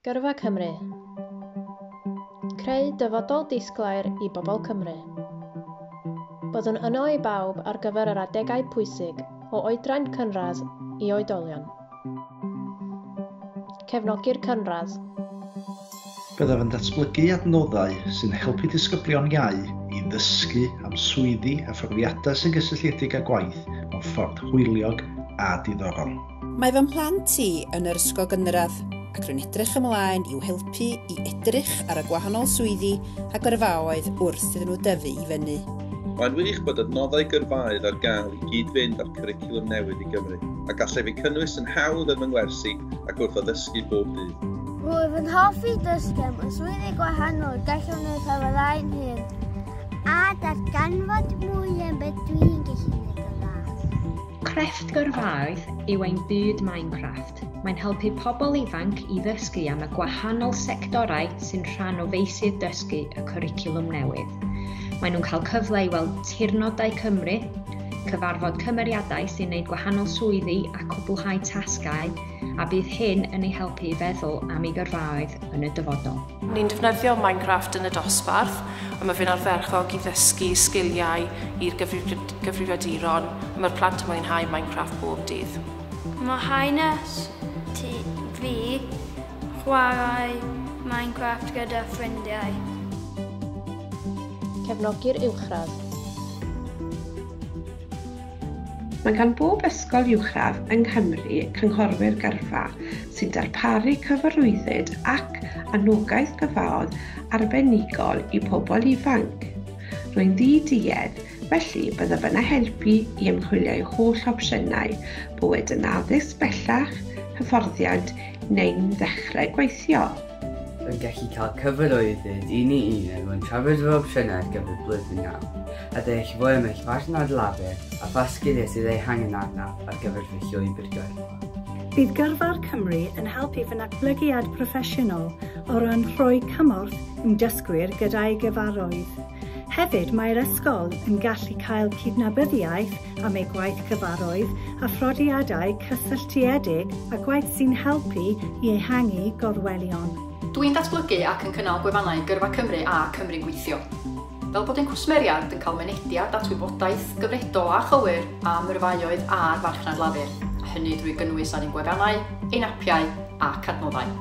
Gyrfa Cymru. Creu dyfodol disglair i bobl Cymru. Byddwn yno i bawb ar gyfer yr adegau pwysig o oedran cynradd i oedolion. Cefnogi'r cynradd. Byddaf yn datblygu adnoddau sy'n helpu disgyblion iau i ddysgu am swyddi a phrofiadau sy'n gysylltiedig â gwaith mewn ffordd hwyliog a diddorol. Mae fy mhlant i yn yr ysgol gynradd ac rwy'n edrych ymlaen i'w helpu i edrych ar y gwahanol swyddi a gyrfaoedd wrth iddyn nhw dyfu i fyny. Mae'n wych bod adnoddau gyrfaoedd ar gael i gyd-fynd â'r cwricwlwm newydd i Gymru, a gallaf eu cynnwys yn hawdd yn fy ngwersi ac wrth addysgu bob dydd. Rwyf yn hoffi dysgu am y swyddi gwahanol gallwn eu cyflawni'n hŷn, a darganfod mwy am beth dwi'n gallu wneud yn dda. Crefft Gyrfaoedd yw ein byd Minecraft. Mae'n helpu pobl ifanc i ddysgu am y gwahanol sectorau sy'n rhan o feysydd dysgu y cwricwlwm newydd. Maen nhw'n cael cyfle i weld tirnodau Cymru, cyfarfod cymeriadau sy'n gwneud gwahanol swyddi a cwblhau tasgau, a bydd hyn yn ei helpu i feddwl am ei gyrfaoedd yn y dyfodol. Ni'n defnyddio Minecraft yn y dosbarth a mae fe'n arferchog i ddysgu sgiliau i'r gyfrifiaduron a mae'r plant yn mwynhau Minecraft bob dydd. Mae hanes ti fi chwarae Minecraft gyda ffrindiau. Cefnogi'r uwchradd. Mae gan bob ysgol uwchradd yng Nghymru cynghorwyr gyrfa sy'n darparu cyfarwyddyd ac anogaeth gyrfaodd arbenigol i pobl ifanc. Rwy'n ddi-duedd, felly byddaf yna helpu i ymchwilio'u holl opsiynau, bo wedi yn addysg bellach, hyfforddiant neu'n ddechrau gweithio. yn gallu cael cyfer o iddynt un i un er mwyn trafod fy opsiynau ar gyfer blwyddyn nawr, a deall fwy am eich partner lawer a pha sgiliau sydd eu hangen arnaf ar gyfer fy llwybr gyrfa. Bydd Gyrfa'r Cymru yn helpu fy natblygiad proffesiynol o ran rhoi cymorth i'm dysgwyr gyda'i gyfarwydd. Hefyd, mae'r ysgol yn gallu cael cydnabyddiaeth am ei gwaith cyfarwydd a phrodiadau cysylltiedig â gwaith sy'n helpu i ehangu gorwelion. Dw i'n datblygu ac yn cynnal gwefannau Gyrfa Cymru a Cymru Gweithio. Fel bod ein cwsmeriaid yn cael mynediad at wybodaeth gyfredol a chywir am yrfaoedd a'r farchnad lafur, a hynny drwy gynnwys ar ein gwefannau, ein apiau ac adnoddau.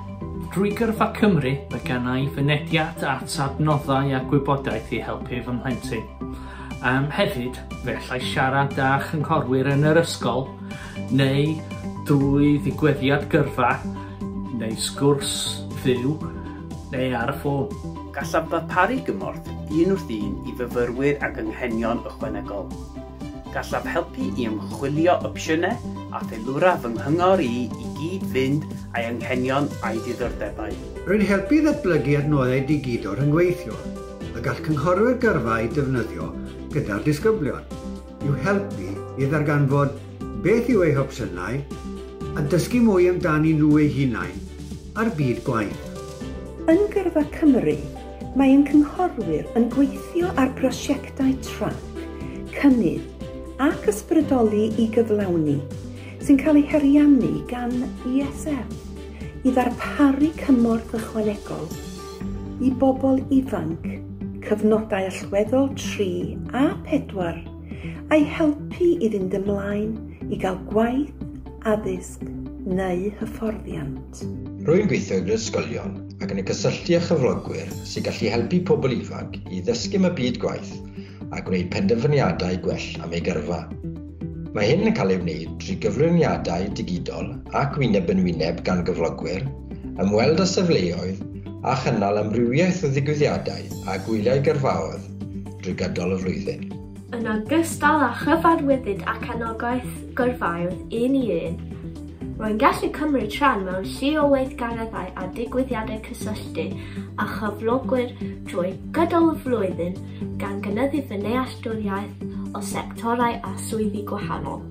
Drwy Gyrfa Cymru, mae gan i fynediad at adnoddau a gwybodaeth i helpu fy mhlentyn. Um, hefyd, fe allai siarad â chynghorwyr yn yr ysgol neu drwy ddigwyddiad gyrfa neu sgwrs fyw neu ar y ffôn. Gallaf ddarparu gymorth un wrth un i fyfyrwyr ag anghenion ychwanegol. Gallaf helpu i ymchwilio opsiynau a theilwra fy nghyngor i i gyd-fynd â'i anghenion a'i ddiddordebau. Rwy'n helpu i ddatblygu adnoddau digidol rhyngweithiol y gall cynghorwyr gyrfa eu defnyddio gyda'r disgyblion, i'w helpu i ddarganfod beth yw eu hopsiynau a dysgu mwy amdanyn nhw eu hunain a'r byd gwaith. Yn Gyrfa Cymru, Mae ein cynghorwyr yn gweithio ar brosiectau trac, cynnydd ac ysbrydoli i gyflawni, sy'n cael eu hariannu gan ESF, i ddarparu cymorth ychwanegol i bobl ifanc, cyfnodau allweddol 3 a 4, a'i helpu i fynd ymlaen i gael gwaith, addysg neu hyfforddiant. Rwy'n gweithio i brifysgolion ac yn y cysylltu â chyflogwyr sy'n gallu helpu pobl ifanc i ddysgu am y byd gwaith a gwneud penderfyniadau gwell am eu gyrfa. Mae hyn yn cael ei wneud trwy gyflwyniadau digidol ac wyneb yn wyneb gan gyflogwyr, ymweld â safleoedd a chynnal amrywiaeth o ddigwyddiadau a gwyliau gyrfaoedd drwy gydol y flwyddyn. Yn ogystal â chyfarwyddyd ac anogaeth gyrfaoedd un i un, rwy'n gallu cymryd rhan mewn llu o weithgareddau a digwyddiadau cysylltu â chyflogwyr drwy gydol y flwyddyn, gan gynyddu fy nealltwriaeth o sectorau a swyddi gwahanol.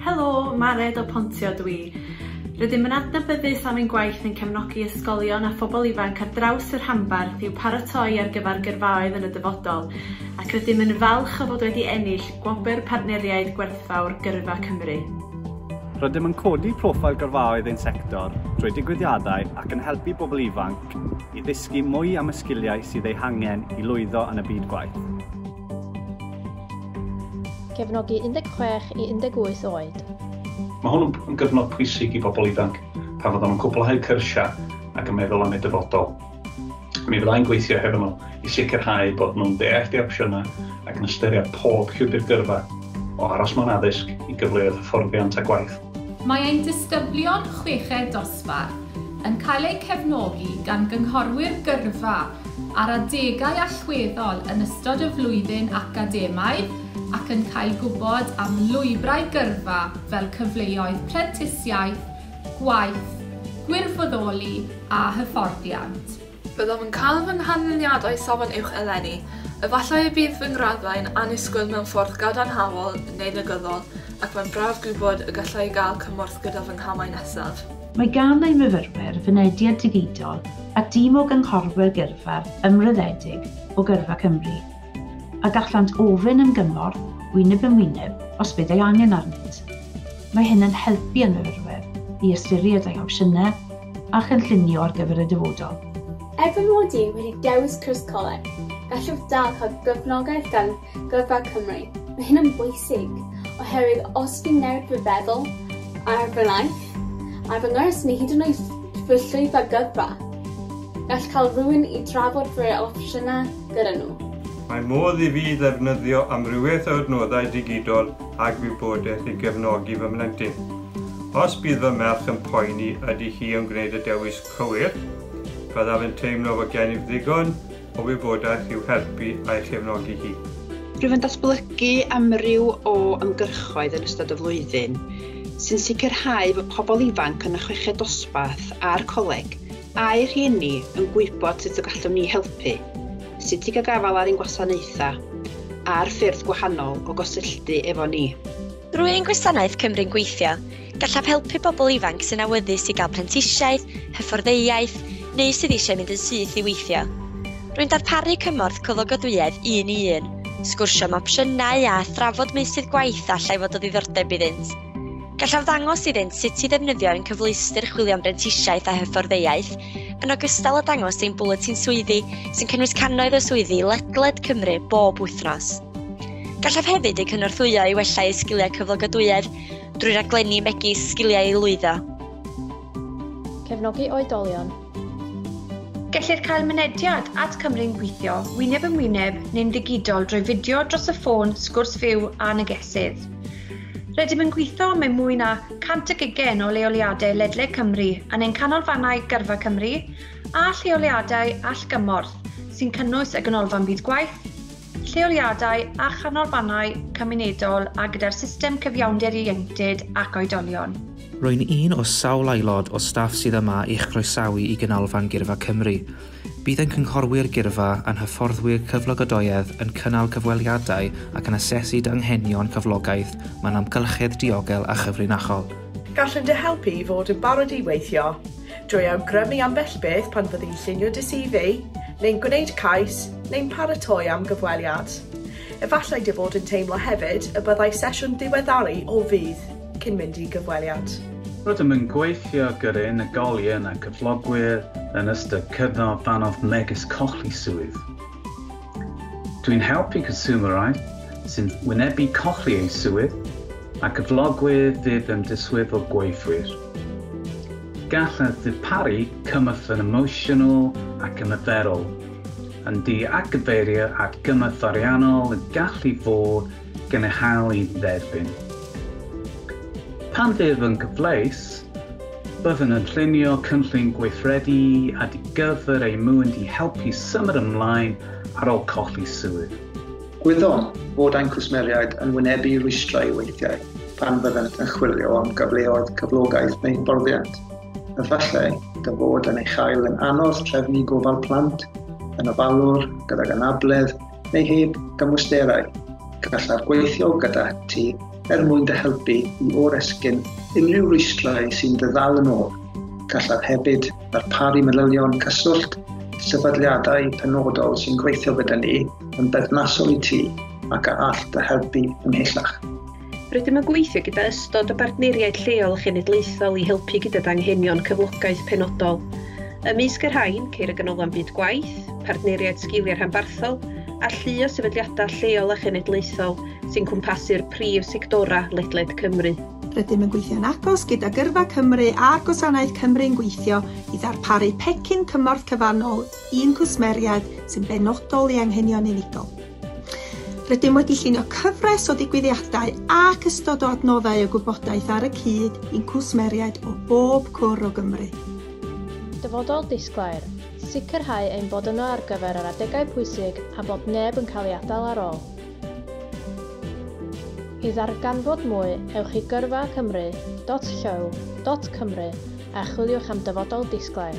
Helo, Mared o Pontio dw i. Rydym yn adnabyddus am ein gwaith yn cefnogi ysgolion a phobl ifanc ar draws y rhanbarth i'w paratoi ar gyfer gyrfaoedd yn y dyfodol, ac rydym yn falch o fod wedi ennill Gwobr Partneriaid Gwerthfawr Gyrfa Cymru. Rydym yn codi proffil gyrfaoedd ein sector drwy digwyddiadau ac yn helpu bobl ifanc i ddysgu mwy am y sgiliau sydd eu hangen i lwyddo yn y byd gwaith. Cefnogi 16 i 18 oed. Mae hwn yn gyfnod pwysig i bobl ifanc pan fyddwn yn cwblhau cyrsiau ac yn meddwl am eu dyfodol. Mi fydda i'n gweithio hefo nhw i sicrhau bod nhw'n deall eu opsiynau ac yn ystyried pob llwybr gyrfa, o aros mewn addysg i gyfleoedd hyfforddiant a gwaith. Mae ein disgyblion chweched dosbarth yn cael eu cefnogi gan gynghorwyr gyrfa ar adegau allweddol yn ystod y flwyddyn academaidd ac yn cael gwybod am lwybrau gyrfa fel cyfleoedd prentisiaeth, gwaith, gwirfoddoli a hyfforddiant. Byddaf yn cael fy nghanlyniadau Safon Uwch eleni. Efallai y bydd fy ngraddau'n annisgwyl mewn ffordd gadarnhaol neu negyddol, ac mae'n braf gwybod y galla i gael cymorth gyda fy nghamau nesaf. Mae gan ein myfyrwyr fynediad digidol at dîm o gynghorwyr gyrfa ymroddedig o Gyrfa Cymru, a gallant ofyn am gymorth wyneb yn wyneb os bydd ei angen arnynt. Mae hyn yn helpu ein myfyrwyr i ystyried eu hopsiynau a chynllunio ar gyfer y dyfodol. Er fy mod i wedi dewis cwrs coleg, gallwch dal cael cefnogaeth gan Gyrfa Cymru. Mae hyn yn bwysig, oherwydd os fi'n newid fy feddwl ar fy naill, ar fy ngwrs neu hyd yn oed fy llwyfan gyrfa, gall cael rhywun i drafod fy opsiynau gyda nhw. Mae modd i fi ddefnyddio amrywiaeth o adnoddau digidol a gwybodaeth i gefnogi fy mhlentyn. Os bydd fy merch yn poeni ydy hi yn gwneud y dewis cywir, byddaf yn teimlo fod gennyf ddigon o wybodaeth i'w helpu a'i chefnogi hi. Rwyf yn datblygu amryw o ymgyrchoedd yn ystod y flwyddyn sy'n sicrhau bod pobl ifanc yn y chweched dosbarth a'r coleg Ai rhieni yn gwybod sut y gallwn ni helpu, sut i gael gafael ar ein gwasanaethau, a'r ffyrdd gwahanol o gysylltu efo ni? Drwy ein gwasanaeth Cymru'n Gweithio, gallaf helpu pobl ifanc sy'n awyddus i gael prentisiaeth, hyfforddeiaeth, neu sydd eisiau mynd yn syth i weithio. Rwy'n darparu cymorth cyflogadwyedd un i un, sgwrsio am opsiynau a thrafod meysydd gwaith a allai fod o ddiddordeb iddynt. Gallaf ddangos iddynt sut i ddefnyddio ein cyfleuster chwilio am brentisiaeth a hyfforddeiaeth, yn ogystal â dangos ein bwletin swyddi sy'n cynnwys cannoedd o swyddi ledled Cymru bob wythnos. Gallaf hefyd eu cynorthwyo i wella eu sgiliau cyflogadwyedd drwy raglenni megis sgiliau i lwyddo. Cefnogi oedolion Gellir cael mynediad at Cymru'n Gweithio wyneb yn wyneb neu'n ddigidol drwy fideo dros y ffôn, sgwrs fyw a negesydd. Rydym yn gweithio mewn mwy na 120 o leoliadau ledled Cymru yn ein canolfannau Gyrfa Cymru a lleoliadau allgymorth sy'n cynnwys y Ganolfan Byd Gwaith, lleoliadau a chanolfannau cymunedol a gyda'r system cyfiawnder ieuenctid ac oedolion. Rwy'n un o sawl aelod o staff sydd yma i'ch croesawu i Ganolfan Gyrfa Cymru. Bydd ein cynghorwyr gyrfa a'n hyfforddwyr cyflogadoedd yn cynnal cyfweliadau ac yn asesu dy anghenion cyflogaeth mewn amgylchedd diogel a chyfrinachol. Gallent dy helpu i fod yn barod i weithio Drwy awgrymu ambell beth pan fyddi yn llunio dy CV, neu'n gwneud cais, neu'n paratoi am gyfweliad. Efallai dy fod yn teimlo hefyd y byddai sesiwn ddiweddaru o fudd cyn mynd i gyfweliad. Rydym yn gweithio gyda unigolion a chyflogwyr yn ystod cyfnod anodd megis colli swydd. Dwi'n helpu consumerau sy'n wynebu colli eu swydd a cyflogwyr fydd yn diswyddo gweithwyr. Gallent ddarparu cymorth yn emosiynol ac ymarferol, yn du a gyfeirio at gymorth ariannol y gallu fod gan eu hail i dderbyn. Pan fydd yn gyfleus, Byddwn yn llunio cynllun gweithredu ad gyfer eu mynd i helpu symud ymlaen ar ôl colli swydd. Gwyddom fod ein cwsmeriaid yn wynebu rwystrau weithiau pan fyddant yn chwilio am gyfleoedd cyflogaeth neu hyfforddiant. Efallai dy fod yn ei chael yn anodd trefnu gofal plant yn ofalwr gydag anabledd neu heb gymwysterau, gallaf gweithio gyda ti er mwyn dy helpu i oresgyn unrhyw rwystrau sy'n dy ddal yn ôl. Gallaf hefyd ddarparu manylion cyswllt sefydliadau penodol sy'n gweithio gyda ni yn berthnasol i ti ac a all dy helpu ymhellach. Rydym yn gweithio gyda ystod o bartneriaid lleol a chenedlaethol i helpu gyda danghenion cyflogaeth penodol. Ymysg y rhain, ceir y Ganolfan Byd Gwaith, Partneriaid Sgiliau Rhanbarthol a llu o sefydliadau lleol a chenedlaethol sy'n cwmpasu'r prif sectorau ledled Cymru. Rydym yn gweithio'n agos gyda Gyrfa Cymru a Gwasanaeth Cymru'n gweithio i ddarparu pecyn cymorth cyfannol i'n cwsmeriaid sy'n benodol i anghenion unigol. Rydym wedi llunio cyfres o ddigwyddiadau ac ystod o adnoddau o gwybodaeth ar y cyd i'n cwsmeriaid o bob cwr o Gymru. Dyfodol disglair, Sicrhau ein bod yno ar gyfer yr adegau pwysig a bod neb yn cael ei adael ar ôl. I ddarganfod mwy, ewch i gyrfa cymru dot llyw dot cymru a chwiliwch am Dyfodol Disglair.